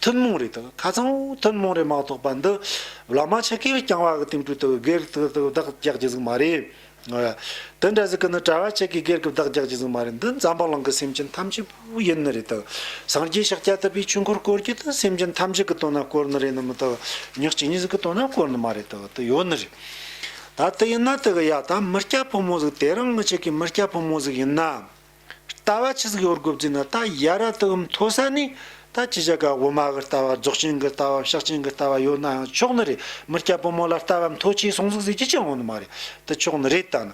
ཐུན་མོང་རིགས་དང་ཁ་ཚང་བོ་ཐུན་མོང་རིགས་མ་གཏོགས་པ་འདི་བླ་མ་ཆེ་གེ་བས་རྐྱང་བ་གི་སྟེང་དྲུད་དུ་སྒེར་གི་བདག་རྒྱག་གྱི་ཟིག་མ་རེད། དེ་འདྲ་ཟིག་གི་ནི་གྲྭ་བ་ཆེ་གེ་སྒེར་གི་བདག་རྒྱག་གྱི་ཟིག་མ་རེད་འདི་འཛམ་བུ་གླིང་གི་སེམས་ཅན་ཐམས་ཅད་པོ་ཡིན་ནི་རེད་དང་སངས་རྒྱས་ཤཱཀྱ་ཐུབ་པའི་ཆོས་འཁོར་བསྐོར་རྒྱུ་དེ་སེམས་ཅན་ཐམས་ཅད་གི་དོན་ན་བསྐོར་ནི་རེད་ནི་མི་དག་ཉག་གཅིག་གཉིས་ཟིག་གི་དོན་ན་བསྐོར་ནི་མ་རེད་དག་དེ་ཡོད་ནི་རེད། ད་དེ་ཡིན་ན་དེ་གི་ཡ་ད་མི་སྐྱ་ཕོ་མོ་ཟིག་དེ་རང་གི་ཆེ་གེ་མི་སྐྱ་ཕོ་མོ་ཟིག་ཡིན་ན། ལྟ་བ་ཆི་ཟིག་ཡོར་དགུ་བརྫིས་ན་ད་ཡ་ར་དུ་འུམ་མཐོ་ས་ནས་ད་ཅི་བྱ་དགའ་དབུ་མ་གི་ལྟ་བ་རྫོགས་ཆེན་གི་ལྟ་བ་བཤགས་ཆེན་གི་ལྟ་བ་ཡོད་ནའང་ཆོག་ནི་རེད་མི་སྐྱ་བུ་མོ་ལ་ལྟ་བ་མཐོ་ཆེའི་གསུང་ཟིག་ཟིག་ཅི་ཆི་འོང་ནི་མ་རེད་དི་ཆོག་ནི་རེད་ད་ནི་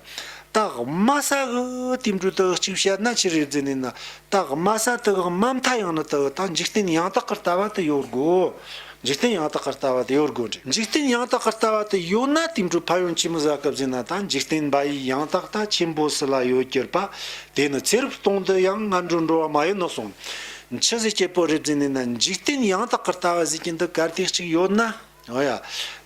ད་དབུ་མ་ས་གི་དེམ་དྲུ་དི་གཅིག་བཤད་ན་ཆི་རེ་བརྫི་ནི་ནི་ད་དབུ་མ་ས་དི་དབུ་མ་མཐའ་ཡང་ནི་དི་ད་འཇིག་རྟེན་ཡང་དག་གི་ལྟ་བ་དི་ཡོར་དགུ། འཇིག་རྟེན་ཡང་དག་གི་ལྟ་བ་དེ་ཡོད་དགོས་འགྲེ། འཇིག་རྟེན་ཡང་དག་གི་ལྟ་བ་དེ་ཡོད་ན་དེང་དུས་ཕ་ཡུལ་ཆེན་མོ་གཟའ་སྐབས་ཟིན་ན་ད་འཇིག་རྟེན་འབའ་ཡིག་ཡང་དག་ད་ཆེན་པོ་སི་ལ་ཡོད་གྱུར་པ་དེ་ནི་ཚེ་རབས་སྟོང་དུ་ཡང་སྔ་འགྲོ་འགྲོ་བ་མ་ཡོད་ནོ་གསུང། འཆི་ཟི་སྐྱེ་བོ་རེ་བརྩིས་ནས་ན་འཇིག་རྟེན་ཡང་དག་གི་ལྟ་བ་ཟིག་གྱི་འདི་གར་དེ་གཅིག་ཡོད་ན། འོ་ཡ།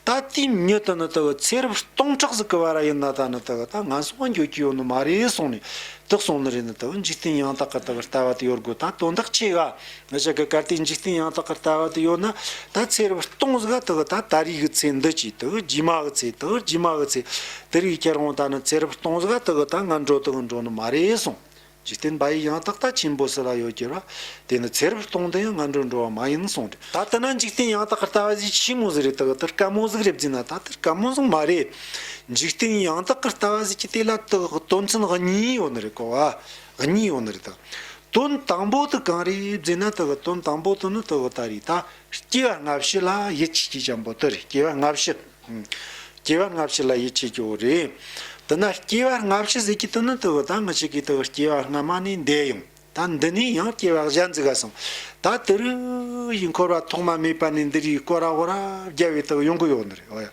ད་དེའི་མྱུ་དུ་ནི་དག་ཚེ་རབས་སྟོང་ཕྲག་ཟིག་གི་བར་ཡིན་ན་ད་ནི་དག་ད་ང་སོང་བ་འགྱོད་ཀྱི་ཡོད་ནི་མ་རེད་གསུང་ནས་དག་གསུང་ནི་རེད་ནི་དག་འཇིག་རྟེན་ཡང་དག་གི་དག་ལྟ་བ་དེ་ཡོད་དགོས་ད་དོན་དག་ཆེ་ག་བཞག་གི་གར་སྟེགས་འཇིག་རྟེན་ཡང་དག་གི་ལྟ་བ་དུ་ཡོད་ན་ད་ཚེ་རིལ་སྟོང་གཟག་དག་ད་ད་རིས་ཀྱི་ཚེ་འདི་ཅིག་དག་རྗེས་མ་གི་ཚེ་དག་རྗེས་མ་གི་ཚེ་དེ་རིགས་ཁྱེར་འོང་ད་ནི་ཚེ་རིལ་སྟོང་གཟག་དག་ད་ང་འགྲོ་དག་འགྲོ་ནི་མ་རེད་གསུངས། འཇིག་རྟེན་པ་ཡི་ཡང་དག་ལྟ་ཆེན་པོ་སུ་ལ་ཡོད་ཀྱི་ར། དེ་ནི་ཚེ་རིལ་སྟོང་འདི་ཡང་ང་འགྲོ་འགྲོ་བ་མ་ཡིན་གསུངས། ད་ལྟ་ན་འཇིག་རྟེན་ཡང་དག་གི་ལྟ་བ་གཞི་ཆེན་མོ་ཟིག་རེད་དག་དེར་དཀའ་མོ་ཟིག་རེད་བགྱིས་ན་ད་དེར་དཀའ་མོ་ཟིག་མ་རེད། འཇིག་རྟེན་ཡང་དག་གི་ལྟ་བ་ཟིག་གི་དེ་ལ་དག་གི་དོན་ཚན་གཉིས་ཡོད་ནི་རེད་གོ་བ། གཉིས་ཡོང་ནི་རེད་ད། དོན་དང་པོ་དུ་གང་རེད་བརྫི་ན་དོ་བ་དོན་དང་པོ་དུ་ནི་དོ་བ་ད་རེད་ད། སྐྱེ་བ་སྔ་ཕྱི་ལ་ཡིད་ཆེས་ཀྱི་ཀྱང་པོ་དུ་རེད་སྐྱེ་བ་སྔ་ཕྱི། སྐྱེ་བ་སྔ་ཕྱི་ལ་ཡིད་ཆེས་ཀྱི་བོ་རེད། དུ་ན་སྐྱེ་བ་སྔ་ཕྱི་ཟེར་གྱི་དུ་ནི་དུ་བ་ད་ངི་ཆི་གི་དུ་བ་སྐྱེ་བ་སྔ་མ་ནས་འདས་ཡོང་ད་འདི་ནས་ཡང་སྐྱེ་བ་གཞན་བརྫི་ག་སོང་ད་དུ་རུ་ཡི་འཁོར་བ་ཐོག་མ་མེད་པ་ནས་འདི་རུའི་སྐོར་ར་བོ་ར་བརྒྱ་བའི་དུ་བ་ཡོང་གི་ཡོད་ནི་རེད་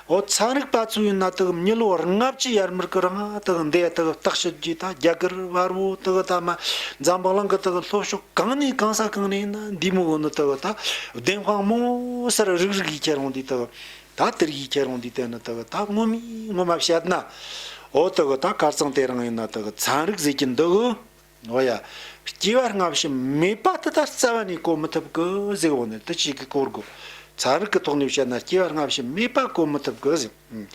ཨོ་ཚང་རིག་པ་གཙོས་ཡུལ་ན་དག་མྱི་ལོ་རིང་ལྔ་བཅུའི་ཡར་མར་གི་རང་ཨ་དག་འདས་དག་བརྟག་ཞིབ་བགྱིས་ད་རྒྱ་གར་བར་བོ་དག་ད་མ་འཛམ་བག་ལང་གི་དག་ལྷོ་ཕྱོགས་གང་ནས་གང་ས་གང་ནས་ན་འདི་མོ་བོ་ནི་དག་ད་བདེན་དཔང་མོ་སར་རིག་རིག་གིས་ཁྱེད་རང་འདི་དག་ད་དིར་གིས་ཁྱེད་རང་འདི་དེ་ནི་དག་ད་སྔོན་མའི་སྔོན་མ་བཤད་ན་ཨོ་དག་ད་གར་ཚང་དེ་རང་ཡིན་ན་དག་ཚང་རིག་ཟེར་གྱི་འདུག། ནོ་ཡ། སྐྱེ་བ་སྔ་ཕྱི་མེད་པ་དེ་ལྟར་རྩ་བ་ནས་གོ་མི་ཐུབ་ཀི་ཟིག་འོ་ནི་དེ་གཅིག་གིས་གོ་དགོས། ཚན་རིག་གི་ཐོག་ནས་བཤད་ན་སྐྱེ་བ་སྔ་ཕྱི་མེད་པ་གོ་མི་ཐུབ་ཀི་ཟིག།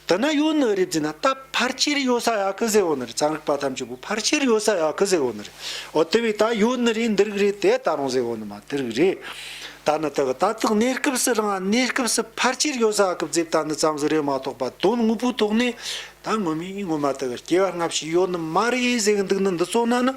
དེ་ན་ཡོད་ནི་རེད་ཟེར་ན་ད་ཕར་ཆེར་ཡོད་ས་ཡ་ཀི་ཟིག་འོ་ནི་རེད་ཚན་རིག་པ་ཐམས་ཅད་པོ་ཕར་ཆེར་ཡོད་ས་ཡ་ཀི་ཟིག་འོ་ནི་རེད། འོ་དེ་བས་ད་ཡོད་ནི་རེད་འདི་རིགས་རེད་དེ་ད་རུང་ཟིག་འོ་ནི་མ་དེ་རིགས་རེད། ད་ནི་དེ་གི་ད་ལྟག་གནས་སྐབས་སུ་རང་གནས་སྐབས་སུ་ཕར་ཆེར་ཡོད་ས་ཀི་ཟིག་ད་ནི་ཙམ་ཟིག་རེད་མ་གཏོགས་པ་དོན་དངོས་པོའི་ཐོག་ནས་ད་སྔོན་མའི་ངོ་མ་དག་སྐྱེ་བ་སྔ་ཕྱི་ཡོད་ནི་མ་རེད་ཟེར་གི་འདུག་ན་འདི་ཚོ་ན་ནི་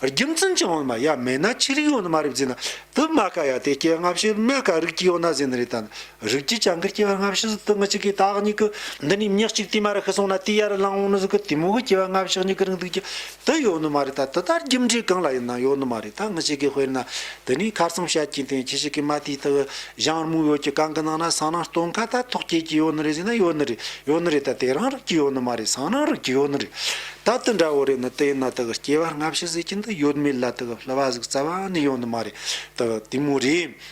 རྒྱུ་མཚན་ཅི་འོང་ན་མ་ཡ་མེད་ན་ཆི་རིགས་ཡོད་ནི་མ་རེད་བརྫི་ན་དུ་མ་ཀ་ཡ་དེ་སྐྱེ་བ་སྔ་ཕྱི་མེད་ཀ་རིགས་ཀྱི་ཡོད་ན་ཟེར་ནི་རེད་ད་ནི་རིགས་ཀྱི་ཅང་གི་སྐྱེ་བ་སྔ་ཕྱི་ཟིག་དུ་མ་ཅིག་གིས་ད་གཉིས་ཀྱི་འདི་ནས་མྱི་གཅིག་དུས་མ་རེད་ཤི་སོང་ན་དུས་ཡར་རེ་ལངས་འོང་ནི་ཟིག་གི་དུས་མོ་གི་སྐྱེ་བ་སྔ་ཕྱི་གཉིས་ཀྱི་རིང་འདུག་ཀྱི་དེ་ཡོད་ནི་མ་རེད་ད་དེ་ལྟར་རྒྱུ་འབྲས་གང་ལ་ཡིན་ན་ཡོད་ནི་མ་རེད་ད་ངུ་ཞིག་གིས་དཔེར་ན་དེ་ནས་ཁ་བསམ་ཤ་ཁྱི་འཐེན་ཁྱི་ཞིག་གིས་མ་དེའི་ཐུགས་གཞང་རྨུག་ཡོད་ཀྱི་གང་གི་ནང་ན་སང་ནང་སྟོན་ཁ་ད་ཐོག་སྐྱེས་ཀྱི་ཡོད་ནི་རེད་ཟེར་ན་ཡོད་ནི་རེད་ཡོད་ནི་རེད་ད་དེ་རང་རིགས་ཀྱི་ཡོད་ནི་མ་རེད་སང་ནང་རིགས་ཀྱི་ཡོད་ནི་རེད་ད་དེ་འདྲ་བོ་རེད་ནི་དེ་ཡིན་ན་དེ་གི་སྐྱེ་བ་སྔ་ཕྱི་ཟེར་གྱི་འདི་ཡོད་མེད་ལ་དེ་གི་ལྷུ་བ་ཟུག་རྩ་བ་ནི་ཡོད་ནི་མ་རེད་དེ་གི་དེ་མོ་རེད།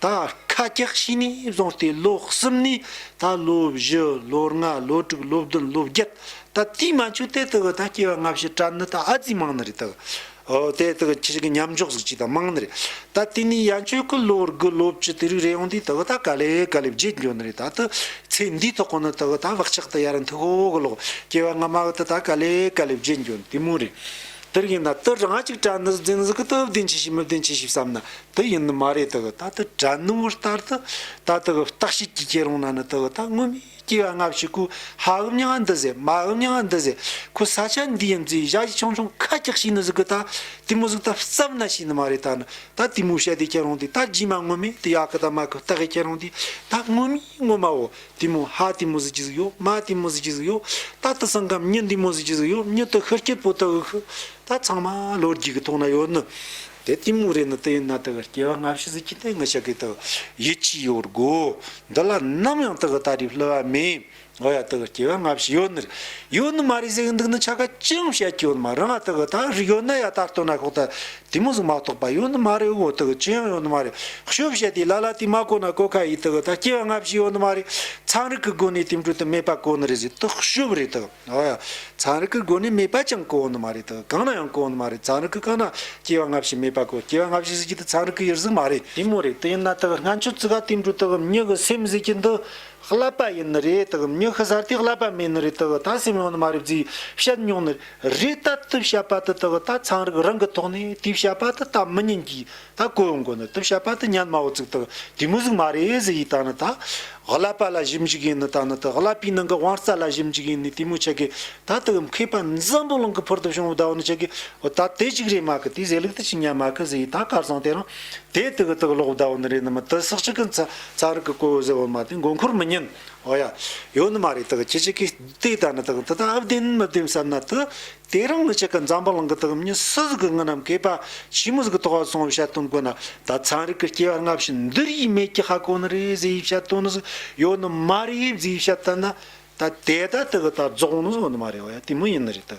ད་ཁ་སྐྱག་ཤི་ནས་བཟུང་སྟེ་ལོ་གསུམ་ནས་ད་ལོ་བཞི་ལོ་ལྔ་ལོ་དྲུག་ལོ་བདུན་ལོ་བརྒྱད་ད་རྩིས་མ་ཆུ་དེ་དག་གི་ད་སྐྱེ་བ་སྔ་ཕྱི་སྐྲ་ནི་ད་ཨ་རྩིས་མང་ནི་རེད་ད་ཨོ་དེ་དག་གི་ཁྱི་ཞིག་གི་མཉམ་འཇོག་ཟིག་ཅིག་ད་མང་ནི་རེད་ད་དེ་ནས་ཡ་ཁྱོད་གི་ལོ་དགུ་ལོ་བཅུ་དེ་རིགས་རེད་ཡོང་དུས་ད་གི་ད་ག་ལེ་ག་ལེ་བརྗེད་འགྱོ་ནི་རེད་ད་དུ་ཚེ་འདིའི་ཐོག་གོ་ནི་ད་གི་ད་བག་ཆགས་ད་ཡ་ར་འཐུག་ཨོ་གི་ལོ་སྐྱེ་བ་སྔ་མ་གི་ད་ད་ག་ལེ་ག་ལེ་བརྗེད་འགྱོ་ནི་དེ་མོ་རེད་དེ་རིགས་ཡིན་ད་དུ་རང་ཅིག་སྐྲ་ནི་ཟིག་འཛིན་ཟིག་གི་དུ་བདེན་ཆི་ཞིག་མི་བདེན་ཆི་ཞིག་བསམ་ན་དེ་ཡིན་ནི་མ་རེད་དེ་གི་ད་ད་དྲ་ནུབ་བུ་ལྟར་དུ་ད་དེ་གི་བརྟག་དཔྱད་ཀྱི་སྐྱེ་རུང་ན་ནི་དེ་གི་ད་སྔོན་མའི་སྐྱེ་བ་སྔ་ཕྱི་ཁོའི་ཧ་འུ་མྱི་ང་འདི་ཟེར་མ་འུ་མྱི་ང་འདི་ཟེར་ཁོ་ས་ཆ་འདི་ཡིན་ཛི་བཞག་གཞི་ཆུང་ཆུང་ཁ་སྐྱག་ཞིག་ནི་ཟི་གི་ད་དེ་མོ་ཟིག་ད་བརྩབ་ན་ཞིག་ནི་མ་རེད་ད་ནི་ད་དེ་མོའི་བཤད་དེ་སྐྱེ་རུང་དེ་ད་རྗེས་མ་སྔོན་མའི་དེ་ཡག་གི་ད་མ་གི་བརྟག་དཔྱད་སྐྱེ་རུང་དེ་ད་སྔོན་མའི་སྔོན་མ་འོ་དེ་མོ་ཧ་དེ་མོ་ཟི་གྱི་ཟིག་ཡོད་མ་དེ་མོ་ཟི་གྱི་ཟིག་ཡོད་ད་དེ་སང་ཀམ་མྱི་འདི་མོ་ཟི་གྱི་ཟིག་ཡོད་མྱི་དེ་ཤི་སྐྱེ་པོ་དེ་གི་ཤི་ད་ཚང་མ་ལོ་རྒྱུས་ཀྱི་ཐོག་ན་ཡོད་ནི། དེ་གཏི་མུག་རེད་ན་དེ་ཡིན་ན་དེ་གར་སྐྱེ་བ་སྔ་ཕྱི་ཟིལ་གྱིས་གཏན་འགལ་བྱ་དགོས་ཐུག་ཡིད་ཆེས་ཡོད་དགོས། འདི་ལ་ནམ་ཡང་དེ་གི་ལྟ་རིགས་བསླུ་བ་མེད། འོ་ཡ་དེ་གི་སྐྱེ་བ་སྔ་ཕྱི་ཡོད་ནི་རེད་ཡོད་ནི་མ་རེད་ཟེར་གི་འདུག་ན་ཆ་ག་ཅི་ཡང་བཤད་ཀྱི་ཡོད་ནི་མ་རེད་འང་དེ་གི་ལྟ་རིགས་ཡོད་ན་ཡ་ད་ལྟོ་ན་ཁོག་ལྟ་དེ་མོ་ཟིག་མ་གཏོགས་པ་ཡོད་ནི་མ་རེད་འོ་དེ་གི་ཅི་ཡང་ཡོད་ནི་མ་རེད་བཤོད་བཤད་དེ་ལ་ལ་དེ་མ་གོ་ན་གོ་ཁ་ཡིས་དེ་གི་ལྟ་སྐྱེ་བ་སྔ་ཕྱི་ཡོད་ནི་མ་རེད་ཚངས་རིག་གི་སྒོ་ནས་དེ་འགྲོ་དེ་མེད་པ་གོ་ནི་རེད་ཟེར་དེ་བཤོད་རེད་དེ། ཚངས་རིས་ཀྱི་སྒོ་ནས་མེད་པ་ཅང་གོ་བོ་ནི་མ་རེད་དོ། གང་ན་ཡང་གོ་བོ་ནི་མ་རེད་ཚངས་རིས་ཀྱི་རྐང་ན་སྐྱེ་བ་སྔ་ཕྱི་མེད་པ་གོ་སྐྱེ་བ་སྔ་ཕྱི་ཟེར་གྱི་འདི་ཚངས་རིས་ཀྱི་ཡུལ་གཟུགས་མ་རེད། ཡིན་མོ་རེད་དེ་ཡིན་ན་དག་སྔ་མཆོད་ཙི་ག་དེ་འབྲུ་དག་མྱི་གི་སེམས་ཟེར་གྱི་འདི་བསླབ་པ་ཡིན་ནི་རེད་དག་མྱི་གི་ཟར་དེ་བསླབ་པ་མིན་ནི་རེད་དག་ད་སེམས་ཡོང་ནི་མ་རེད་བརྫིས་བཤད་མྱོང་ནི་རེད་ད་དེ་བཤད་པ་དེ་དག་ད་ཚངས་རིས་རང་གི་ཐོག་ནས་དེ་བཤད་པ་དེ་ད་མི་ཉན་གྱི་ད་བཀོད་འོང་གོ་ནི་དུ་བཤད་པ་དེ་སྙན་སྨྲ་བོ་ཚིག་དག་གི་མི་གཟུགས་མ་རེད་ཟེ་ཡིས་ད་ནི་ད། བསླབ་པ་ལ་གཞི་འཇུག་ཡིན་ནི་ད་ནི་དུ་བསླབ་པའི་ནང་གི་དབང་རྩ་ལ་གཞི་འཇུག་ཡིན་ནི་དེ་མོ་ཆེ་གི་ད་དུ་གི་མཁས་པ་འཛམ་བུ་གླིང་གི་ཕུར་དུ་བྱུང་བའི་ད་བོ་ནི་ཆེ་གི་བོ་ད་དེ་གཅིག་རེད་མ་གི་དེ་ཟེ་ལུགས་དེ་གཅིག་སྙན་མ་གི་ཟེ་ཡིས་ད་སྐལ་བཟང་དེ་རང་དེ་དུ་གི་དུ་གློག་བུ་ད་བོ་ནི་རེད་ནི་མི་དུ་སག་ཅིག་གི་ཚ་ཚ་རིག་གི་བཀོད་བོ་ཟེ་བོ་མ་དེ་མགོ་འཁོར་མི་ཉན་ཨོ་ཡ། ཡོད་ནི་མ་རེད་དུ་གི་ཁྱི་གཅིག་གིས་དེ་ད་ནི་དུ་གི་དུ་ད་ཨབ་བདེན་མི་བདེན་བསམ་ན་དུ་དེ་རང་ལ་ཆེ་ཁ་འཛམ་བུ་གླང་གི་ཐག་རྙི་སྲི་ཟིག་གི་རྔུ་རྣམས་གས་པ་ཕྱི་མོ་ཟིག་གི་ཐོག་བ་སོང་བའི་བཤད་དོན་དཀོན་ན་ད་ཚངས་རིག་གི་སྐྱེ་བ་སྔ་ཕྱི་འདི་རིས་མེད་ཀྱི་ཧ་གོ་ནི་རེད་ཟེ་ཡི་བཤད་དོན་ནི་ཟིག་ཡོད་ནི་མ་རེད་ཡིབ་ཟེ་ཡི་བཤད་ལྟ་ན་ད་དེ་ད་དི་གི་ད་རྫོགས་ནི་ཟོ་ནི་མ་རེད་བ་ཡ་དེ་མི་ཡིན་ནི་རེད་དི་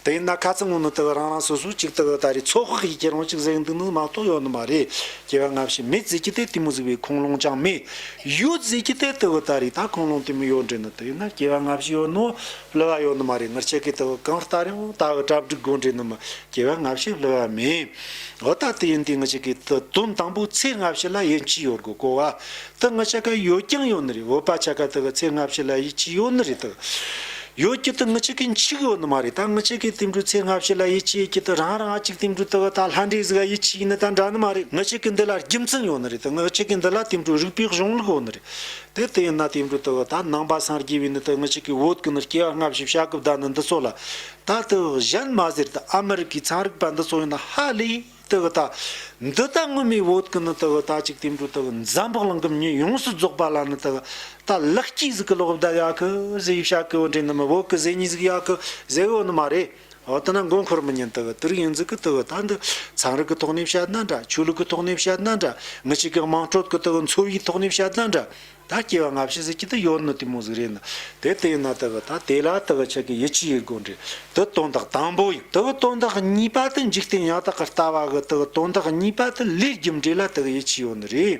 དེ་ཡིན་ན་ཁ་ཚི་ངོ་ནི་དི་གི་རང་རང་སོ་སོའི་ཅིག་དི་གི་ད་རེས་ཚོགས་ཤིག་གིས་ཁྱེད་རང་ཅིག་ཟེག་འདུག་ནི་མ་གཏོགས་ཡོད་ནི་མ་རེད་སྐྱེ་བ་སྔ་ཕྱི་མེད་ཟེ་ཀྱི་དེ་དི་མི་ཟིག་བའི་ཁུངས་ལུང་ཅང་མེད་ཡོད་ཟེ་ཀྱི་དེ་དི་གི་ད་རེས་ད་ཁུངས་ལུང་དི་མི་ཡོད་འདྲི་ནི་དི་ཡིན་ན་སྐྱེ་བ་སྔ་ཕྱི་ཡོད་ནི་ལུས་བ་ཡོད་ནི་མ་རེད་མིར་ཆེ་གེ་དེའོ་གང་ལྟར་ཡང་ད་འུ་གྲ་བསྒྲིགས་དགོས་འབྲེལ་ནི་མི་སྐྱེ་བས་ལྔ་བཤད་ལུས་བ་མེད་འུ་ད་དེ་ཡིན་དེ་ངི་ཆེ་གེ་དུ་དོན་དང་པོའི་ཚེ་ལྔ་བཤད་ལ་ཡིད་ཆེས་ཡོད་དགོས་གོ་བ་དུ་ངི་ཆེ་གེ་ཡོད་ཀྱང་ཡོད་ནི་རེད་འུ་པ་ཆེ་གེ་དུ་གི་ཚེ་ལྔ་བཤད་ལ་ཡིད་ཆེས་ཡོད་ནི་རེད་དུ་ཡོད་ཀྱི་དུ་ངི་ཆེ་གེ་འཆི་གི་ཡོད་ནི་མ་རེད་ད་ངི་ཆེ་གེ་དེ་འདྲའི་ཚེ་ལྔ་བཤད་ལ་ཡིད་ཆེས་ཡོད་ཀྱི་དུ་རང་རང་ཨ་གཅིག་དེ་འདྲའི་དུ་གི་ད་ལྷ་འདྲེ་གཟིགས་ལ་ཡིད་ཆེས་ཡིན་ནི་ད་འདྲ་ནི་མ་རེད་ངི་ཆེ་གེ་འདི་ལ་རྒྱུ་མཚན་ཡོད་ནི་རེད་དུ་ངི་ཆེ་གེ་འདི་ལ་དེ་འདྲའི་རིགས་པའི་གཞུང་ལུགས་ཡོད་ནི་རེད་དེ་དེ་ཡིན་ན་དེའི་འབྲུ་དུ་ད་ནང་པ་སངས་རྒྱས་པའི་ནི་དུ་མི་ཅིག་གིས་འོད་ཀྱི་ནི་སྐྱེ་བ་སྔ་ཕྱི་བྱ་གི་བདག་ནི་འདི་ཚོ་ལ། ད་དུ་གཞན་མ་ཟེར་དུ་ཨ་མི་རི་ཀའི་ཚངས་རིག་པ་འདི་ཚོ་ཡིན་ན་ཧ་ལས་དུ་ད། འདི་ད་སྔོན་མའི་འོད་ཀྱི་ནི་དུ་ད་ཅིག་དེའི་འབྲུ་དུ་འཛམ་བུ་གླིང་གི་མི་ཉིད་ཡོངས་སུ་རྫོགས་པ་ལ་ནི་དུ་ད་ལེགས་སྐྱེས་གཟུགས་ཀྱི་ལོག་ལྟ་ཡ་གི་གཟི་ཡིག་བྱ་གི་འོད་འདྲེན་ནི་མི་འོད་ཀྱི་གཟི་ཉི་གཟུགས་ཡ་གི་གཟི་འོད་ནི་མ་རེད། འོ་ད་ནི་མགོ་འཁོར་མི་ཉན་དུ་དུར་ཡིན་ཟིག་གི་དུ་བུ་ད་འདི་ཚངས་རིགས་ཀྱི་ཐོག་ནས་བཤད་ན་འདྲ་ཆོས་ལུགས་ཀྱི་ཐོག་ནས་བཤད་ན་འདྲ་མི་གཅིག་གི་དམངས་ཁྲོད་ཀྱི་དུ་བུ་འཚོ་བའི་ཐོག་ནས་བཤད་ན་འདྲ་ད་སྐྱེ་བ་སྔ་ཕྱི་ཟེར་གྱི་དུ་ཡོད་ནི་དེ་མོ་ཟིག་རེད་ནི་དེ་དེ་ཡིན་ན་དུ་བུ་ད་དེ་ལ་དུ་བུ་ཆགས་ཀྱི་ཡིད་ཆེས་ཡོད་དགོས་འདྲི་དུ་དོན་དག་དང་པོ་ཡིན་དུ་བུ་དོན་དག་གཉིས་པ་དུ་འཇིག་རྟེན་ཡང་དག་གི་ལྟ་བ་གི་དུ་བུ་དོན་དག་གཉིས་པ་དུ་ལས་རྒྱུ་འབྲས་ལ་དུ་བུ་ཡིད་ཆེས་ཡོད་ནི་རེད།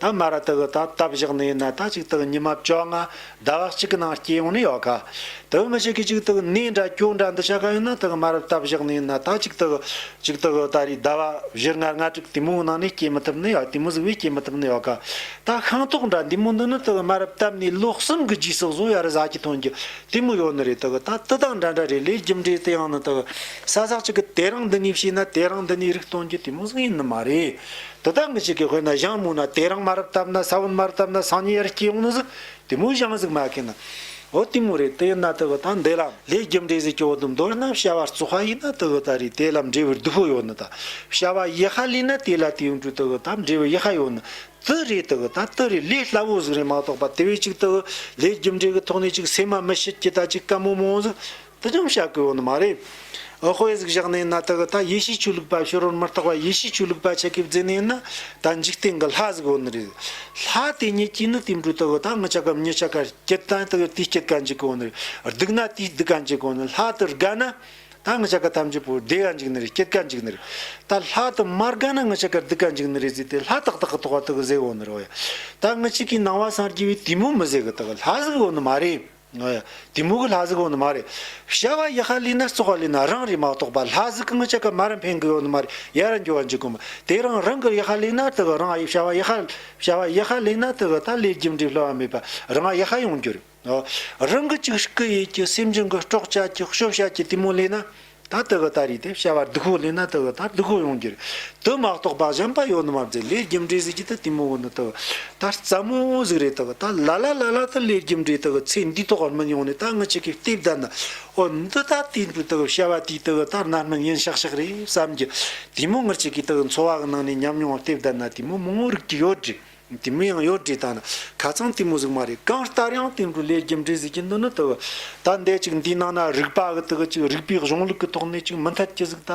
ཐ་མ་ར་དགུ་ཐ་ཐ་བཞག་ནས་ན་ཐ་གཅིག་དག་ཉི་མ་བཅོ་ལྔ་ཟླ་བ་གཅིག་གི་ནང་སྐྱེ་ཡོང་ནི་ཡོད་ག། དུ་མི་ཞིག་གིས་གཅིག་དག་གནས་འདྲ་སྐྱོ་འདྲ་འདི་བྱ་ག་ཡོད་ན་ཐ་མ་ར་ཐ་བཞག་ནས་ན་ཐ་གཅིག་དག་གཅིག་དག་ད་རེས་ཟླ་བ་བཞི་ལྔ་ལྔ་དྲུག་དེ་མོའི་ནང་ནས་སྐྱེ་མི་ཐུབ་ནི་ཡོད་དེ་མོ་གཟུགས་བས་སྐྱེ་མི་ཐུབ་ནི་ཡོད་ག། ད་ཤིང་ཏོག་འདྲ་འདི་མོ་འདི་ནི་ཐ་མ་ར་བཏབ་ནས་ལོ་གསུམ་གི་རྗེས་སུ་བཟོ་ཡ་རུ་བཟའ་གི་ཐོན་གྱི་དེ་མོ་ཡོད་ནི་རེད་ཐ་ག་ད་དུ་དག་འདྲ་འདྲ་རེད་ལས་རྒྱུ་འབྲས་དེ་ཡང་ནི་ཐ་ག་ས་ཟག་ཅིག་གི་དེ་རིང་འདི་ནས་བྱས་ན་དེ་རིང་འདི་ནས་རིགས་སྟོན་གྱི་དེ་མོ་གཟུགས་ཡིན་ནི་མ་རེད། དེ་དག་མི་གཅིག་གི་དཔེར་ན་གཞང་མུག་ན་དེ་རང་མ་རབས་བཏབ་ན་ས་བོན་མར་བཏབ་ན་སང་ཉིན་ཡར་སྐྱེས་ཡོང་ནི་ཟིག་དེ་མུག་གཞང་ཟིག་མ་ཁེན་ན། འོ་དེ་མུག་རེད་དེ་ཡིན་ན་དེ་བུ་དང་འདེ་ལམ་ལས་རྒྱུ་འབྲས་ཟིག་སྐྱེ་བོ་དུམ་མདོ་ན་བྱ་བ་རྩུ་བྷ་ཡིན་ན་དེ་བུ་ད་རེས་དེ་ལམ་འབྲས་བུའི་བདུད་ཕོ་ཡོང་ནི་ད། བྱ་བ་ཡེ་ཧ་ལེ་ན་དེ་ལ་དེ་ཡོང་དུས་དེ་བུ་ད་འབྲས་བུ་ཡེ་ཧ་ཡོང་ནི་དེ་རེད་དེ་བུ་ད་དེ་རེད་ལས་སླ་བོ་ཟིག་རེད་མ་གཏོགས་པ་དེ་བས་ཅིག་དེ་བུ་ལས་རྒྱུ་འབྲས་ཀྱི་ཐོག་ནས་ཅིག་སེམས་མ་མི་ཤེས་ཀྱི་ད་ཅིག་བཀའ་མོ་མོང་ཟིག་དུ་སྦྱང་བྱ་དགོས་བ་ནི་མ་རེད། འོ་དཔེ་གཟིགས་བཞག་ནས་ན་དག་ད་ཡེ་ཤེས་ཆོས་ལུགས་པ་ཤོར་བར་མི་རྟག་པ་ཡེ་ཤེས་ཆོས་ལུགས་པ་ཆེ་གེ་བརྫེ་ནས་ན་ད་འཇིག་རྟེན་གི་ལྷ་གཟིགས་བ་ནི་རེད། ལྷ་དེ་ཉིད་ཀྱིས་ནི་དེ་འགྲོ་དག་ད་ངུ་ཆ་ག་མྱི་ཆ་ག་སྐྱེད་ད་དེ་སྐྱེད་ག་འཇིག་གི་བ་ནི་རེད་སྡུག་ན་དེ་སྡུག་ག་འཇིག་གི་བ་ནི་ལྷ་དེ་རྒ་ན་ད་ངུ་ཆ་ག་ཐམས་ཅད་པོ་བདེ་ག་འཇིག་ནི་རེད་སྐྱེད་ག་འཇིག་ནི་རེད། ད་ལྷ་དེ་མ་རྒ་ན་ངུ་ཆ་ག་སྡུག་ག་འཇིག་ནི་རེད་ཟེར་ཏེ་ལྷ་ཏག་ཏག་གི་ཐོག་བ་ཏག་གཟེགས་བ་ནི་རེད། ད་ངུ་ཆི་ཀའི་ནང་བ་སངས་རྒྱས་པའི་དེ་མོ་མི་གཟེགས་གི་ཏག་ལྷ་གཟིགས་བ་ནི་མ་རེད། དེ་མུ་གུ་ལྷ་གཟིགས་འོག་ནི་མ་རེད། བྱ་བ་ཡི་ཧ་ལི་ན་བཙོག་བ་ལི་ན་རང་རེ་མ་གཏོགས་པ་ལྷ་གཟིགས་གང་ཅི་ག་མ་ར་འཕེན་གི་འོག་ནི་མ་རེད་ཡ་ར་འགྱོ་བ་འཇིག་གོ་མ་དེ་རང་རང་གི་ཡི་ཧ་ལི་ན་དེ་གི་རང་ཡི་བྱ་བ་ཡི་ཧ་བྱ་བ་ཡི་ཧ་ལི་ན་དེ་གི་ད་ལས་རྒྱུ་འབྲས་ལྷོད་བ་མེད་པ་རང་ཡི་ཧ་ཡོང་རྒྱུ་རེད་རང་གི་ཅིག་གི་ཡིད་ཀྱི་སེམས་ཅན་གི་སྐྲོག་བྱ་ཀྱི་གཤོབ་བྱ་ཀྱི་དེ་མུ་ལི་ན་ད་ལྟ་གི་ལྟ་རིས་དེ་བྱ་བར་སྡུག་ཁོག་ལེན་ན་ད་གི་ལྟར་སྡུག་ཁོག་ཡོང་གི་རེད་དེ་མ་གཏོགས་པ་གཞན་པ་ཡོད་ནི་མ་རེད་ལས་རྒྱུ་འབྲས་གཟིགས་ཀྱི་ད་དེ་མོ་བོ་ནི་ད་གི་ལྟར་རྩ་མོ་བོ་གཟིགས་རེད་ད་གི་ལྟར་ལ་ལ་ལ་ལ་ད་ལས་རྒྱུ་འབྲས་ད་གི་ཚེ་འདིའི་ཐོག་བར་མི་ཡོང་ནི་ད་ངི་ཆི་ཁའི་ལྟས་བདའ་ན་ཨོ་འདི་ལྟ་དེ་འདི་ད་གི་བྱ་བ་དེའི་ད་གི་ལྟར་ན་མི་ངན་ཤག་ཤག་རེད་བསམ་གྱི་དེ་མོ་ངི་ཆི་ཁའི་ད་གི་འཚོ་བ་གི་ནང་ནས་ཉམས་མྱོང་བ་ལྟས་བདའ་ན་དེ་མོ་མོ་རིགས་ཀྱི་ཡོད་རེད། གཏི་མུག་ཡང་ཡོད་དྲིས་དང། ཁ་ཚང་གཏི་མུག་གཟུགས་མ་རེད་གང་ལྟར་ཡང་དེ་འདྲུ་ལས་རྒྱུ་འབྲས་གཟུགས་ཀྱི་འདུ་ནི་དུ་བ་ད་འདས་ཅིག་འདིའི་ནང་ན་རིག་པ་གི་དུ་བ་གཅིག་རིག་པའི་གཞུང་ལུགས་ཀྱི་ཐོག་ནས་ཅིག་མི་འཐད་ཀྱི་གཟུགས་ད་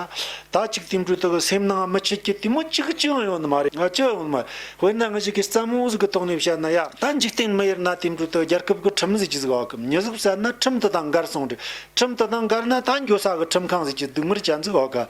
ད་ཅིག་དེ་འདྲུ་དུ་བ་སེམས་ནང་མི་ཆོས་ཀྱི་གཏི་མུག་གཅིག་གཅིག་ཡང་ཡོད་ནི་མ་རེད་གཅིག་ཡང་ཡོད་ནི་མ་རེད་དཔེར་ན་ངེད་ཅིག་གིས་བརྩམས་གཟུགས་ཀྱི་ཐོག་ནས་བཤད་ན་ཡང་ད་འཇིག་རྟེན་མི་ཡུལ་ན་དེ་འདྲུ་དུ་བ་རྒྱལ་ཁབ་ཀྱི་ཁྲིམས་ཟེར་གྱི་གཟུགས་ཨ་ཁུ་མྱི་གཟུགས་བསལ་ན་ཁྲིམས་དེ་དང་འགལ་གསུངས་དྲིས་ཁྲིམས་དེ་དང་འགལ་ན་ད་འགྱོད་ས་གི་ཁྲིམས་ཁང་ཟེར་གྱི་སྡུག་མིར་བྱ་འཛུགས་ཨ་ཁ་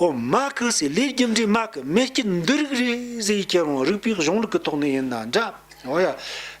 ཨོ་མ་ཀི་སི་ལའི་རྒྱུ་འབྲས་མ་ཀི་མེ་སྐྱི་འདི་རིགས་རེ་ཟའི་ཁྱེད་རང་རིག་པའི་གཞུང་ལུགས་ཀི་ཐོག་ནས་ཡིན་ན་འདྲ་ཨོ་ཡ།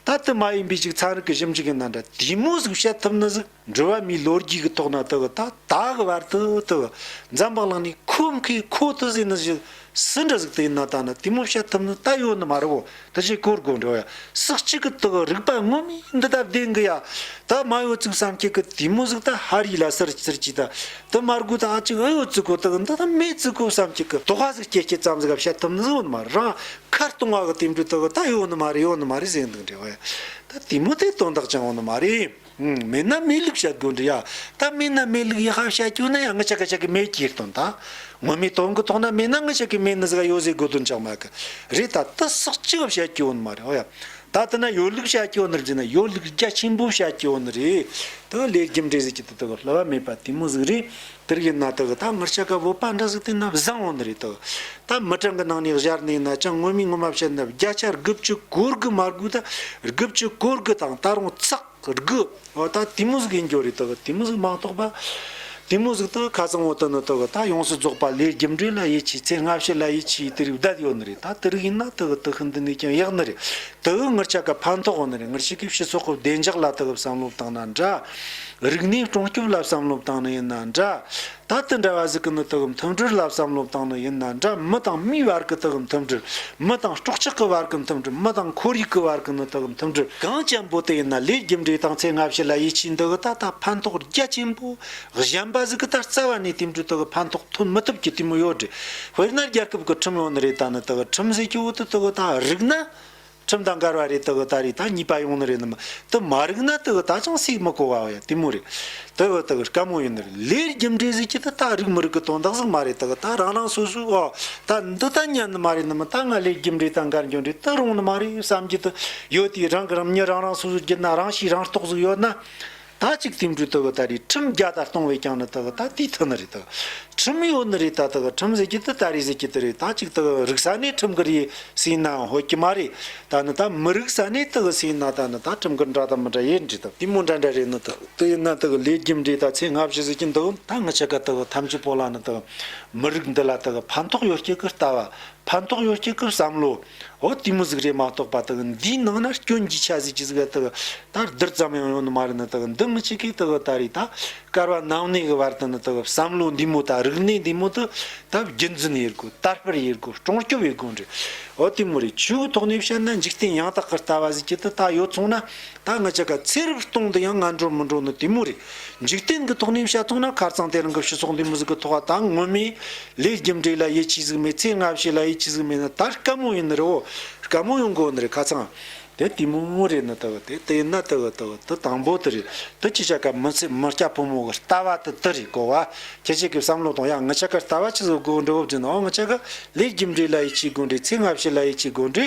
ད་དི་མ་ཡིན་པའི་ཞིག་ཚན་རིག་གི་ཞིབ་འཇུག་ཡིན་ན་འདྲ་དེ་མོ་ཟིག་བཤད་ཐུབ་ནི་ཟིག་འགྲུལ་བ་མིའི་ལོ་རྒྱུས་ཀི་ཐོག་ན་དི་གི་ད་ད་གི་བར་དུ་དི་གི་འཛམ་བག་ལང་ནས་ཁོ་མཁའི་ཁོ་དི་ཟེ་ནི་ཞིག་སི་འདྲ་ཟིག་དི་ཡིན་ན་ད་ནི་དེ་མོ་བཤད་ཐུབ་ནི་ད་ཡོད་ནི་མ་རེད་བོ་དེ་བཞིན་གོར་གོར་འགྲོ་ཡ། སྲིག་གཅིག་གི་དག་རིག་པ་དངོས་མི་འདི་ལྟ་བདེན་གི་ཡ། ད་མ་ཡོ་ཙིག་སངས་རྒྱས་ཀི་དེ་མོ་གཟིག་ད་ཧ་རི་ལ་སར་སིར་གྱིས་ད། དེ་མ་རྒུ་ད་ཨ་ཅིག་ཨི་ཡོ་ཙི་གོ་དག་འདི་ད་མེ་ཙི་གོ་སངས་རྒྱས་ཀི། དོ་ཧ་ཟིག་སྐྱེ་སྐྱེ་ཙམ་ཟིག་ག་བཤད་ཐུབ་ནི་ཟིག་འོ་ནི་མ་རེད་རང་ཁ་སྟོང་བ་གི་དེ་འདྲུ་དག་ད་ཡོ་ནི་མ་རེད་ཡོ་ནི་མ་རེད་ཟེར་འདུག་འདྲེ་བ་ཡ། ད་དེ་མོ་དེ་དོན་དག་ཅིང་འོ་ནི་མ་རེད། མེད་ན་མེད་ལུགས་བཤད་དགོས་འདུག་ཡ། ད་མེད་ན་མེད་ལུགས་ཡི་ཧ་བཤད་ཁྱོད་ན་ཡང་ངུ་ཆ་ག་ཆ་གི་མེད་ཀྱིས་ལྟོན་ད། ངོ་མི་ལྟོན་གི་ཐོག་ན་མེད་ན་ངུ་ཆ་གི་མེད་ནི་ཟི་ག་ཡོད་ཟེ་དགོས་དོན་ཅང་མ་གི། རེད་ད་ཏི་སག་ཅི་ག་བཤད་ཀྱི་འོན་མ་རེད་ཨོ་ཡ། ད་ཏི་ན་ཡོད་ལུགས་བཤད་ཀྱི་འོ་ནི་རྗེ་ན་ཡོད་ལུགས་རྒྱ་ཆེན་པོ་བཤད་ཀྱི་འོ་ནི་རེད། ཏི་ལེགས་རྒྱུ་འབྲས་ཟེར་གྱི་ཏི་ཏི་གོ་ལྷི་བ་མེད་པ་དེ་མོ་ཟིག་རེད། དེར་ཡིན་ན་དག་ད་སྔར་བྱ་དགའ་བོ་དཔའ་འདྲ་ཟིག་དེ་ན་བཟང་བོ་འདི་རེད་དོ། ད་མི་གྲངས་ཀྱི་ནང་ནས་གཞར་ནས་ན་ཅང་སྔོན་མའི་སྔོན་མ་བྱེད་ན་བརྒྱ་ཆ་དགུ་བཅུ་གོ་དགུ་མ་དགུ་ད་དགུ་བཅུ་གོ་དགུ་དང་ད་རུང་ཚག་དགུ་འོ་ད་དེ་མོ་ཟིག་ཡིན་རྒྱུ་རེད་དོ་དེ་མོ་ཟིག་མ་གཏོགས་པ་དེ་མོ་ཟིག་ད་ཁ་ཚང་བོ་དོན་ནི་དག་ད་ཡོངས་སུ་རྫོགས་པ་ལས་རྒྱུ་འབྲས་ལ་ཡིད་ཆེས་ཚེ་སྔ་ཕྱི་ལ་ཡིད་ཆེས་དེ་རིགས་བརྡལ་ཡོད་ནི་རེད་ད་དེ་རིགས་ཡིན་ན་དག་དག་ཤི་འདི་ནས་ཀྱང་ཡག་ནི་རེད་དག་ངར་ཆ་ག་ཕན་ཐོགས་ནི་རེད་ངར་ཆེ་གེ་ཕྱི་ཚོགས་ཀྱི་བདེ་འཇགས་ལ་དག་བསམ་བློ་བཏང་ན་འདྲ། རིག་གནས་སྲུང་སྐྱོབ་ལ་བསམ་བློ་བཏང་ནི་ཡིན་ན་འདྲ། ད་དེ་འདྲ་བ་གཟིགས་ཀི་ནི་དེ་གི་མཐུན་སྒྲིལ་ལ་བསམ་བློ་བཏང་ནི་ཡིན་ན་འདྲ་མི་དང་མིའི་བར་གི་དེ་གི་མཐུན་སྒྲིལ། མི་དང་སྲོག་ཆགས་ཀི་བར་གི་མཐུན་སྒྲིལ་མི་དང་ཁོར་ཡུག་གི་བར་གི་ནི་དེ་གི་མཐུན་སྒྲིལ་གང་ཅན་པོ་དེ་ཡིན་ན་ལས་རྒྱུ་འབྲས་དང་ཚེ་སྔ་ཕྱི་ལ་ཡིད་ཆེས་འདི་གི་ད་ལྟ་ཕན་ཐོག་རྒྱ་ཆེན་པོ་གཞན་པ་གཟིགས་ཀི་ད་རྩ་བ་ནས་དེ་འདྲའི་དེ་གི་ཕན་ཐོག་ཐོན་མི་ཐུབ་ཀི་དེ་མི་ཡོད་དྲི་དཔེར་ན་རྒྱལ་ཁབ་གི་ཁྲིམས་ཡོད་ནི་རེད་ད་ནི་དེ་གི་ཁྲིམས་གཟིགས་ཀི་འོག་ཏུ་དེ་གི་ད་རིག་ན། ཁྲིམས་དང་འགལ་བ་རེད་དེ་འི་ད་རེད་ད་གཉིས་པ་ཡོང་ནི་རེད་ནི་མ་དེ་མ་རིག་ན་དེ་འི་ད་ཅང་སིག་མི་གོ་བའོ་ཡ་དེ་མོ་རེད་དེ་འི་ད་ག་མོ་ཡོད་ནི་རེད་ལེའི་རྒྱུ་འབྲས་ཟིག་གི་དེ་ད་རིག་མི་རིག་གི་དོན་དག་ཟིག་མ་རེད་དེ་འི་ད་རང་རང་སོ་སོའི་འོ་ད་འདི་ད་ཉན་ནི་མ་རེད་ནི་མ་ད་ང་ལེའི་རྒྱུ་འབྲས་དང་འགལ་འགྱུར་འབྲས་དེ་རུང་ནི་མ་རེད་བསམ་གྱི་དེ་ཡོད་དེ་རང་གི་རང་ཉིད་རང་རང་སོ་སོ་རྒྱུ་ན་རང་ཤེས་རང་རྟོགས་ཟིག་ཡོད་ན་ད་ཅིག་དེང་དུས་དག་ད་རེས་ཁྲིམས་རྒྱ་དར་གཏོང་བས་ཀྱང་ནི་དག་ད་དེའི་མཐུ་ནི་རེད་དག་ཁྲིམས་ཡོད་ནི་རེད་ད་དག་ཁྲིམས་ཟེར་གྱི་དེ་ད་རེས་ཟེར་གྱི་དེ་རེད་ད་ཅིག་དག་རིག་ས་ནས་ཁྲིམས་ཀྱི་རེ་ཟིན་ན་ཡང་ཧོད་ཀྱི་མ་རེད་ད་ནི་ད་མི་རིག་ས་ནས་དག་ཟིན་ན་ད་ནི་ད་ཁྲིམས་ཀྱི་འདྲ་དང་མི་འདྲ་ཡེར་འདྲི་དག་དེ་མོ་འདྲ་འདྲ་རེད་ནི་དག་དེ་ཡིན་ན་དག་ལས་རྒྱུ་འབྲས་ད་ཚེ་སྔ་ཕྱི་ཟེར་གྱི་འདུག་ད་ངི་ཆི་ཀ་དག་ཐམས་ཅད་པོ་ལ་ནི་དག་མི་རིག་འདི་ལ་དག་ཕན་ཐོག་ཡོད་ཀྱི་གི་ལྟ་བ་ཕན་ཐོགས་ཡོད་ཀྱི་སྐབས་བསམ་བློ། འོ་དེ་མོ་གཟུགས་རེད་མ་གཏོགས་པ་དག་འདིའི་ནང་ན་སྐྱོན་གྱི་ཆ་ཟིག་ཅི་ཟིག་ག་དག་ད་རྡུལ་ཙམ་ཡང་ཡོང་ནི་མ་རེད་ནི་དག་འདི་མི་གཅིག་གིས་དག་གི་ད་རེས་ད་སྐར་བ་ནང་གནས་ཀྱི་བར་དུ་ནི་དག་བསམ་བློ་འདི་མོ་ད་རིག་གནས་འདི་མོ་དུ་ད་རྒྱུན་འཛིན་ཡེར་དགོས་དར་སྤེལ་ཡེར་དགོས་སྐྲོང་སྐྱོབ་ཡེར་དགོས་འདྲི་འོ་དེ་མོ་རེད་ཆོས་གི་ཐོག་ནས་བཤད་ན་འཇིག་རྟེན་ཡང་དག་གི་ལྟ་བ་ཟིག་ཅི་དག་ད་ཡོད་ཚོང་ན་ད་ང་ཅག་ག་ཚེ་རབས་སྟོང་དུ་ཡང་ང་འགྲོ་མི་འགྲོ་ནི་དེ་མོ་རེད། འཇིག་རྟེན་གྱི་ཐོག་གནས་བྱ་ཐུག་ན་ཁར་ཚང་དེ་རང་གི་ཕྱི་སོག་འདི་མི་ཟིག་གི་ཐོག་ཨ་ཐང་སྔོན་མའི་ལས་རྒྱུ་འབྲས་ལ་ཡིད་ཆེས་ཟིག་མེད་ཚེ་སྔ་ཕྱི་ལ་ཡིད་ཆེས་ཟིག་མེད་ན་ད་དཀའ་མོ་ཡིན་ནི་རེད་བོ། དཀའ་མོ་ཡོང་གི་འོ་ནི་རེད་ཁ་ཚང། དེ་དེ་མོ་མོ་རེད་ནི་དེ་གི་དེ་དེ་ཡིན་ན་དེ་གི་དེ་གི་དེ་དང་པོ་དེ་རེད་དེ་ཁྱེད་ཅག་ག་མི་ཚེ་མི་སྐྱ་ཕོ་མོ་གི་ལྟ་བ་དེ་དེ་རེད་གོ་བ་ཁྱེད་ཅག་གི་བསམ་བློ་དང་ཡང་ང་ཅག་ག་ལྟ་བ་ཅི་ཟིག་དགོས་འདྲི་བོ་བགྱིས་ན་འོ་ང་ཅག་གི་ལས་རྒྱུ་འབྲས་ལ་ཡིད་ཆེས་དགོས་འདྲི་ཚེ་སྔ་ཕྱི་ལ་ཡིད་ཆེས་དགོས་འདྲི་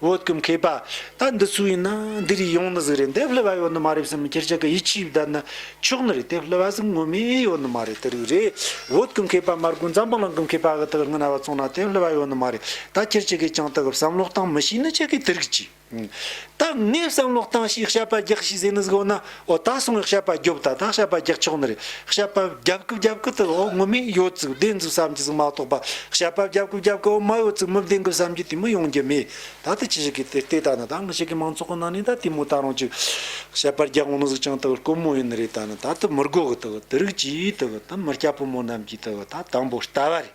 བོད་ཀྱི་མཁས་པ་ད་འདི་སུ་ཡིན་ན་འདི་རིགས་ཡོང་ནི་ཟིག་རེད་འདེབས་སླུ་བ་ཡོད་ནི་མ་རེད་བསམ་ཁྱེད་ཅག་གི་ཡིད་ཆེས་བརྡར་ནི་ཆོག་ནི་རེད་དེབས་སླུ་བ་ཟིག་ངོ་མས་ཡོད་ནི་མ་རེད་དེ་རིགས་རེད་བོད་ཀྱི་མཁས་པ་མར་ཀུན་ཛམ་བུ་ལང་གི་མཁས་པ་གི་དག་ངི་ན་བ་བཙོང་ན་དེབས་སླུ་བ་ཡོད་ནི་མ་རེད་ད་ཁྱེད་ཅག་གིས་ཀྱང་དག་བསམ་བློ་བཏང་མི་ཤེས་ནི་ཅི་གི་དེ་རིགས་ཀྱིས་ད་ངས་བསམ་བློ་བཏང་ཞེས་ཞབས་པ་རྒྱག་ཞེས་ཟེར་ནི་ཟིག་འོ་ན་འོ་ད་སོང་ཤ་པ་རྒྱོབ་ད་ད་ཤ་པ་རྒྱག་ཆོག་ནི་རེད་ཤ་པ་རྒྱབ་ཀི་རྒྱབ་ཀི་དི་འོ་ངོ་མིན་ཡོད་ཙིག་བདེན་ཙིག་བསམ་གི་ཙིག་མ་གཏོགས་པ་ཤ་པ་རྒྱབ་ཀི་རྒྱབ་ཀི་འོ་མ་ཡོད་ཙིག་མི་བདེན་གི་བསམ་གི་དེ་མི་ཡོང་རྒྱུ་མེད་ད་དི་ཅི་ཞིག་གི་དེ་ལྟའི་ད་ནི་ད་ངི་ཞིག་གི་མང་ཚོགས་གི་ནང་ནས་ད་དེ་མོ་ད་རང་ཅིག་ཤ་པ་རྒྱག་འོ་ནི་ཟིག་ཅིང་དི་དཀོན་མོ་ཡིན་ནི་རེད་ད་ནི་ད་དི་མི་དགོ་གི་དི་དི་རིགས་ཀྱིས་དི་དི་མི་སྐྱ་ཕོ་མོ་རྣམས་ཀྱིས་དི་ད་དང་པོ་ལྟ་བ་རེད།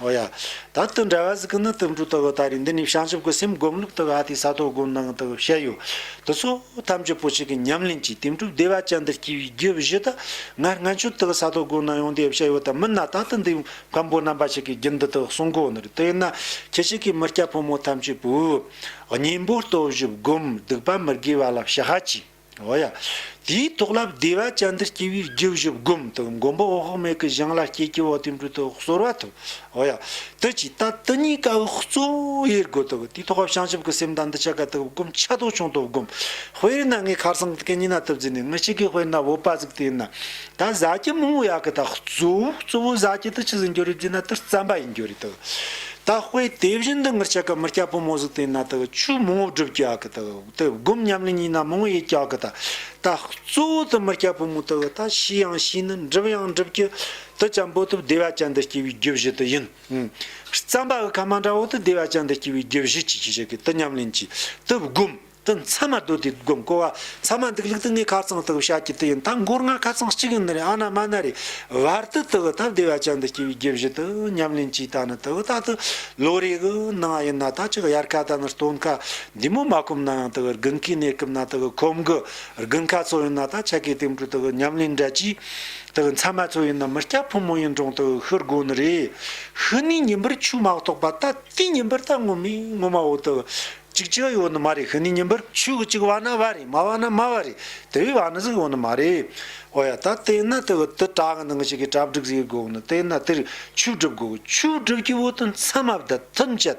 ཨོ་ཡ། ད་ལྟ་འདྲ་བ་ཟིག་གི་ནི་དུམ་བུ་ལྟ་བུ་ད་རེས་འདི་ནས་བྱང་ཆུབ་ཀྱི་སེམས་སྒོམ་ལུགས་ལྟ་བུ་ཨ་ཏི་ས་ཐོབ་སྒོམ་སྣང་ལྟ་བུ་བཤད་ཡོད། དེ་ཚོ་ཐམས་ཅད་པོ་ཆེ་གི་ཉམས་ལེན་གྱིས་དེང་གྲུབ་བདེ་བ་ཅན་འདིར་སྐྱེ་བའི་རྒྱུ་བཞི་དེ་སྔར་སྔ་འཕྱི་ལྟ་བུ་ས་ཐོབ་སྒོམ་སྣང་ཡོང་དེ་བཤད་ཡོད་ད་མིན་ན་ད་ལྟ་འདི་བམ་པོ་རྣམ་པ་ཞིག་གིས་རྒྱུན་འདི་དག་གསུང་གོ་ནི་རེད་དེ་ཡིན་ན་ཁྱེད་ཅིག་གིས་མི་སྐྱ་ཕོ་མོ་ཐམས་ཅད་པོས་གཉེན་པོ་ལྟོ་བཞི་བསྒོམ་སྡིག་པ་མི་དགེ་བ་ལ་བྱ་ཧ་ཅི། འོ་ཡ། དེའི་ཐོག་ལབ་བདེ་བ་ཅན་འདིར་སྐྱེ་བོའི་རྒྱུ་བཞི་བསྒོམ་དུ་མགོན་པོ་འོག་མེད་ཀྱི་གཞུང་ལ་སྐྱེ་སྐྱེ་བོ་བསྟན་འགྲོའི་དོན་གསོལ་བ་ཐོབ། འོ་ཡ། དུ་ཇི་ལྟ་དུ་གཉིས་ཀ་བའི་གཙོ་བོ་དབྱེར་དགོད་དུ་དགོས་དེའི་ཐོག་བྱང་ཆུབ་ཀྱི་སེམས་དང་འདི་ཆ་ག་དུ་བསྒོམ་ཆ་དོག་ཆུང་དུ་བསྒོམ། དཔེར་ན་ངས་ཁར་སང་གི་གཉིས་སྣ་ཐུབ་རྫས་ནས་ངས་གཅིག་གིས་དཔེར་ན་བོད་པ་བཙུགས་དེ་ཡིན་ན། ད་བཟའ་སྐྱི་མང་བོ་ཡག་གི་ད་གཙོ་བོ་གཙོ་བོ་བཟའ་སྐྱི་དུ་ཇི་ཟིན་རྒྱུ་རེད་བརྗོད་ན་དུ་རྩམ་པ་ཡིན་རྒྱུ་རེད་དུ། ད་དཔེ་དེ་བཞིན་དུ་ངར་ཆ་ག་མི་སྐྱ་བོ་མོ་བཟུགས་དེ་ཡིན་ན་དུ་ཆུ་མང་བོ་བསྒྲུབ་རྒྱུ་ཡག་གི་དུ། དུ་བསྒོམ་ཉམས་ལེན་གཉིས་ན་མང་ཡི་སྐྱག་གི་ད་ལྟ་གཙོ་བོ་དུ་མི་སྐྱ་བུ་མོ་དུ་བུ་ད་ཤི་ཡང་ཤི་ནི་འགྲིབ་ཡང་འགྲིབ་ཀྱི་དུ་ཅམ་པོ་དུ་བདེ་བ་ཅན་དུ་སྐྱེ་བའི་རྒྱུ་བཞི་དུ་ཡིན། རྩམ་པ་གི་ཁ་མ་འདྲ་བོ་དུ་བདེ་བ་ཅན་དུ་སྐྱེ་བའི་རྒྱུ་བཞི་ཅི་ཞིག་ཞིག་གི་དུ་ཉམས་ལེན་གྱིས་དུ་བསྒོམ་དུ་མཚན་མ་དོ་དུས་བསྒོམ་གོ་བ་མཚན་མ་འདུག་ལུགས་དུ་ངའི་ཁ་ཚང་དུ་བུ་ཤ་སྐྱི་དུ་ཡིན་ད་མགོར་ང་ཁ་ཚང་གཅིག་ཡིན་ནི་རེད་ཨ་ན་མ་ན་རེད་བར་དུ་དུ་བུ་ད་བདེ་བ་ཅན་དུ་སྐྱེ་བའི་རྒྱུ་བཞི་དུ་ཉམས་ལེན་གྱིས་ད་ནི་དུ་བུ་ད་དུ་ལོ་རེའི་གི་ནང་ཡིན་ན་ད་ཅི་གཡར་ཁ་ད་ནི་སྟོན་ཁ་འདི་མོ་མ་སྐུམ་ན་ཡང་དག་རྒུན་ཁའི་གནས་སྐུམ་ན་དག་ཁོམ་གི་རྒུན་ཁ་ཚོགས་ཡིན་ན་དག་ཆ་གའི་སྟེང་དྲུག་དག་ཉམས་ལེན་འདྲ་གྱིས་དག་མཚན་མ་ཚོགས་ཡིན་ན་མི་སྐྱ་ཕོ་མོ་ཡིན་གྲོང་དག་ཤི་དགོས་ནི་རེད། ཤི་ནས་ཉིན་པར་ཆུ་མ་གཏོགས་པ་ད་ལྟའི་ཉིན་པར་ད་སྔོ་མི་སྔོ་མ་བོ་དག་ཅིག་ཅིག་ཡོད་ནི་མ་རེད་ཤི་ནས་ཉིན་པར་ཆུ་གི་ཅིག་བ་ན་བ་རེད་མ་བ་ན་མ་བ་རེད་དེ་བས་བ་ན་ཟིག་ཡོད་ནི་མ་རེད། འོ་ཡ་ད་དེ་ན་དག་དུ་བྲག་གི་ནང་ཞིག་གི་བྲག་བསྒྲིགས་ཟེར་དགོས་ནི་དེ་ན་དེར་ཆུ་བསྒྲིབས་དགོས་ཆུ་བསྒྲིབས་ཀྱི་བོ་དུ་མཚན་མ་བདུད་ཐུན་བཅད